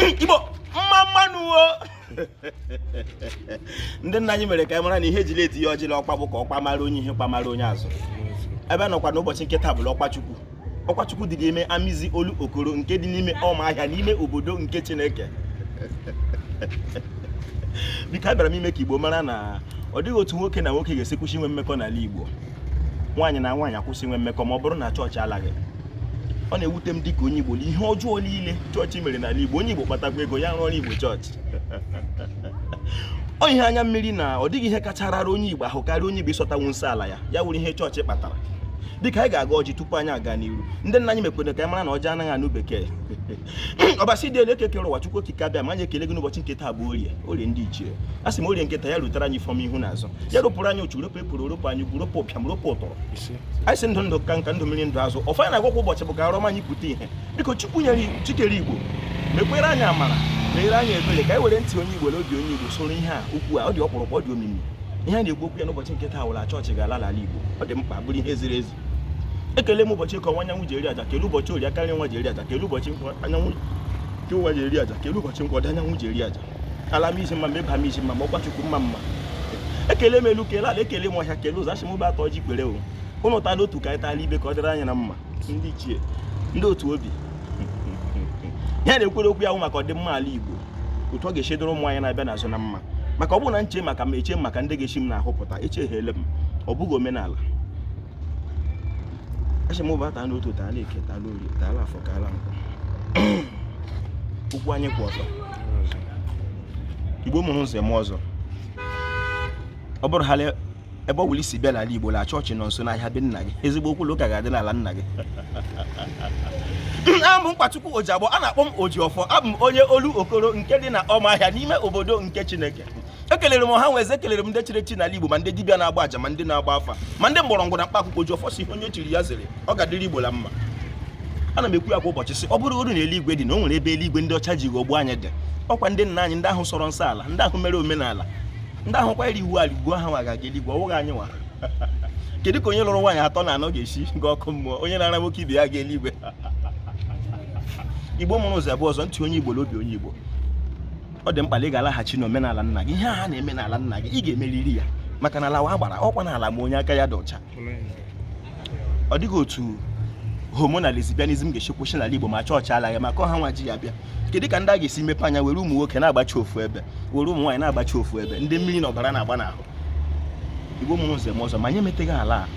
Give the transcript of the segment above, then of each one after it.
igbo mma mma nụ o ndị nna anyị mere ka anyị mara na ihe e jiri etiye ọjị la ọkwa bụ ka ọ kpamara onye ihu kpamara onye azụ ebe m nọkwa n'ụbọchị nke taa bụ la ọkwa chukwu ọkwa chukwu dị n'ime amizi olokoro nke dị n'ime ọma ahịa n'ime obodo nke chineke biko abịara m ime ka igbo mara na ọ dịghị otu nwoke na nwoke ga-esi kwụsị inwe mmekọ n'ala igbo nwaanyị na nwaanyị akwụsị inwe mmekọ ma ọ bụrụ na chọọchị alaghị ọ na-ewute m dịka onye igbo ihe ọjọọ niile chọọchị mere n'ala igbo onye igbo kpatakwa ego ya rụọrọ igbo chọọchị ọ ihe anya mmiri na ọ dịghị ihe kacha rara onye Igbo ahụ karịa onye Igbo ịsọtanwu nsọ ala ya ya wụrụ ihe chọọchị kpatara dịka anyị ga-agọ ọjị tupu anyị aga n'iru ndị nna anyị mekwere ka anyị mara na ọjị anaghị anụ bekee ọbasi dị elu eke kere ụwa chukwu okike abịama anyị ekele gị n'ụbọchị nke taa bụ orie orie ndị ichie a sị m orie nke taa ya rutere anyị ifeọma ihu na azụ ya rụpụrụ anyị ochu ropụ epụrụ ropụ anyị gwu ropụ ụpịam ropụ ụtọrọ anyị sị ndụ ndụ ka nka ndụ mmiri ndụ azụ ọfọ anyị na-agọ kwa ụbọchị bụ ka arọm anyị pụta ihe biko chukwu nyere chi kere igbo mekwere anyị amara meere anyị ebere ka anyị were ntị onye igbo na obi onye igbo soro ihe a okwu a ọ dị ọkpụrụkpụ ọ dị omimi ihe a na-ekwu okwu ya n'ụbọchị nke taa wụ la chọọchị ga-ala ala igbo ọ dị mkpa bụrụ ihe ziri ezi ekele m ụbọchị eke ọwụwa anyanwụ ji eri aja kele ụbọchị orie aka nri ụwa ji eri aja kele ụbọchị afọ nke ụwa ji eri aja kele ụbọchị nkwọ ọdịda anyanwụ ji eri aja ala amizi mma mma ịba amizi mma mma ọkwa chukwu mma mma ekele m elu kele ala ekele m ọhịa kele ụzọ asị m bịa taa ọjị kwere o ụnụ taa la otu ka anyị taa la ibe ka ọ dịrị anyị na mma ndị ichie ndị otu obi ihe a na-ekwuru okwu ya wụ maka ọdịmma ala igbo otu ọ ga-esi dịrị ụmụ anyị na-abịa n'azụ na mma maka ọ bụrụ na m chee maka m eche m maka ndị ga-esi m n'ahụ pụta echeghele m ọ bụghị omenala asị m bịa taa n'otu taa n'eke taa n'orie taa afọ taa la nkwọ ụkwụ anyị kwụ ọtọ igbo mụrụ nze mụọ ọzọ ọ bụrụ haala ebe ọ wụla i si bịa n'ala igbo la chọọchị nọ nso n'ahịa be nna gị ezigbo okwu ụka ga-adị n'ala nna gị abụ m Nkwachukwu Ojiagbọ a na-akpọ m Ojiọfọ abụ m onye Olokoro nke dị na ọma ahịa n'ime obodo nke Chineke ekelere m ọha nwe eze ekelere m ndị chiri echi n'ala Igbo ma ndị dibịa na-agba aja ma ndị na-agba afa ma ndị mgbọrọgwụ na mkpa akwụkwọ oji ọfọ sị onye chiri ya zere ọ ga-adịrị Igbo la mma ana m ekwu ya kwa ụbọchị sị ọ bụrụgodu na eluigwe dị na o nwere ebe eluigwe ndị ọcha ji ghọgbuo anyị dị ọkwa ndị nna anyị ndị ahụ sọrọ nsọ ala ndị ahụ mere omenala ndị ahụ kwanyere iwu ala ugwu ha ga-aga eluigwe ọ wụghị anyị nwa kedu ka onye lụrụ nwaanyị atọ na anọ ga-esi ga ọkụ mmụọ onye na-ara nwoke ibe ya ga eluigwe igbo mụrụ nze mụọ ọzọ ntị onye igbo na obi onye igbo ọ dị mkpa na ị ga-alaghachi n'omenala nna gị ihe a ha na-eme n'ala nna gị ị ga-emeriri ya maka na ala wụ agbara ọkwa na ala ma onye aka ya dị ọcha ọ dịghị otu homo na lesbianism ga-esi kwụsị n'ala Igbo ma chọọchị alaghị maka ọ ha nwa ji ya bịa kedu ka ndị a ga-esi mepe anya were ụmụ nwoke na-agbachi ofu ebe were ụmụ nwaanyị na-agbachi ofu ebe ndị mmiri na ọbara na-agba n'ahụ Igbo mụrụ nze mụọ ọzọ ma anyị emeteghị ala a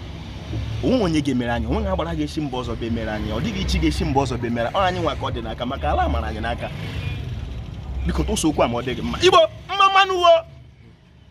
o nweghị onye ga-emere anyị o nweghị agbara ga-esi mba ọzọ bịa emere anyị ọ dịghị chi ga-esi mba ọzọ bịa emere ọ anyị nwa ka ọ dị n'aka maka ala mara anyị n'aka biko tụsụ okwu a ma ọ dịghị mma Igbo mma mma nụ wo